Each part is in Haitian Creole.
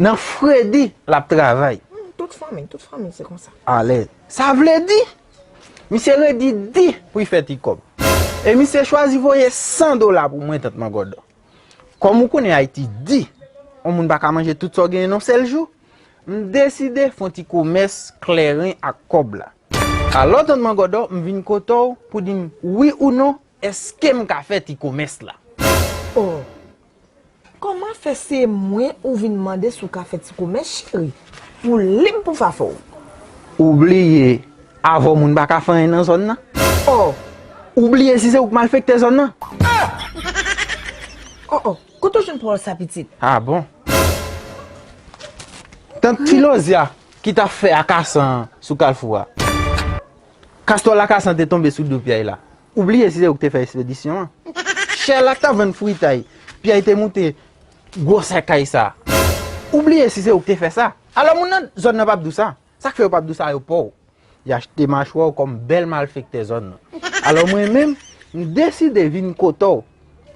Nan fredi lap travay. Humm tout fanmi tout fanmi se konsa. Alez. Sa vle di misye redi di pou y fè ti kòb. E misye chwazi voye 100 dola pou mwen tant Magòdò. Kòm ou konnen Ayiti di, on moun pa ka manje tout sa w genyen n on sèl jou, m deside fon ti komès klèren ak kòb la. Alò tant Magòdò m vin kote w pou di m wi ou non eske m ka fè ti komès la. Oh! Koman fè se mwen ou vin mande si w ka fè ti komès cheri? Ou lib pou fafo w. Ou bliye avè w moun pa ka fè anyen nan zòn nan? Ò! Ou bliye si se ou k malfektè zòn nan? Ò! Ò! Ò! Kote w jwenn pawòl sa pitit? A bon! Tank ti lozya ki t ap fè akasan sou kalfou a. Kastò lakasan te tonbe sou do pyay la. Ou bliye si se ou ki te fè espedisyon an. Sherlak t ap vann fritay. Pyèy te moute gwo sèkay sa. Ou bliye si se ou ki te fè sa. Alò moun nan zòn nan p ap di w sa. Sa k fè yo p ap di w sa yo pa w. Y achte machwè w kòm bèl malfektè zòn nan. Alò mwen menm, m deside vin kote w.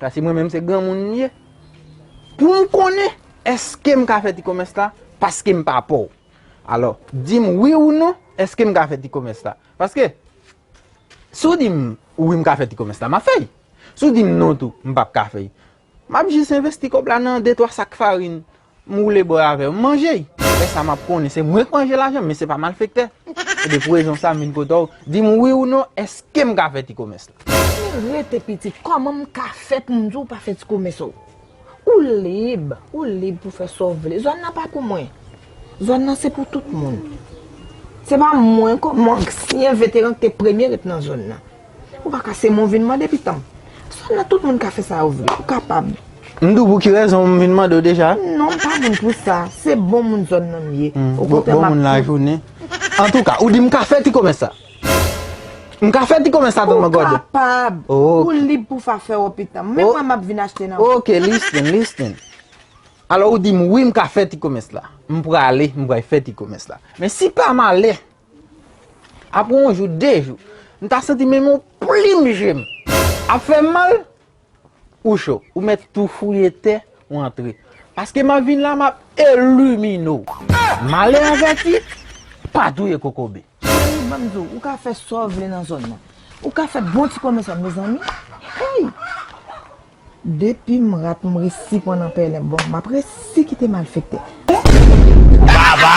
Paske mwen menm se granmoun m ye. Pou m konnen èske m ka fè ti komès la paske m pa pa w. Alò, di m wi ou non, èske m ka fè ti komès la. Paske, si w di m wi m ka fè ti komès la, m ap fè l. Si w di m non tou, m p ap ka fè l. M ap jis envesti kòb la nan de twa sak farin, m woule bò avè yo, m manje l. Lè sa m ap konnen se mwen k manje lajan m, men se pa malfektè. Ebyen pou rezon sa m vin kote w, di m wi ou non, èske m ka fè ti komès la? Si m rete pitit, kòman m ka fè pou m di w pa fè ti komès ou? Ou lib, ou lib pou fè sa w vle. Zòn nan pa pou mwen. Zòn nan se pou tout moun. Se pa mwen kòm ansyen veteran ki te premye ret nan zòn nan. Ou pa ka se mwen ou vin mande pitan m. Zòn nan tout moun ka fè sa yo vle. Ou kapab. M di w pou ki rezon m vin mande w deja. Non, m pa vin pou sa. Se bon moun zòn nan m ye. Bon moun lajounen. Antouka, ou di m ka fè ti komès sa. M ka fè ti komès la tanman gòde? Ou kapab! Ou lib pou fa fè ou pitan. Menm mwen m ap vin achte nan ou. Ok, listen, listen. Alò ou di m wi m ka fè ti komès la. M prale, m pral fè ti komès la. Men si pa malè, apre yon jou, de jou, m ta santi menm yon plim je m ap fè m mal. Ou cho, ou met tou fouye tè, ou antre. Paske map vin la map elimine w. Male avèti, pa touye kokobe. Cheri banm di w, ou ka fè sa w vle nan zòn nan. Ou ka fè bon ti komès la mezanmi. Hey! Depim rat m resi pran nan pèlen bon map resi kite malfektè. Baba!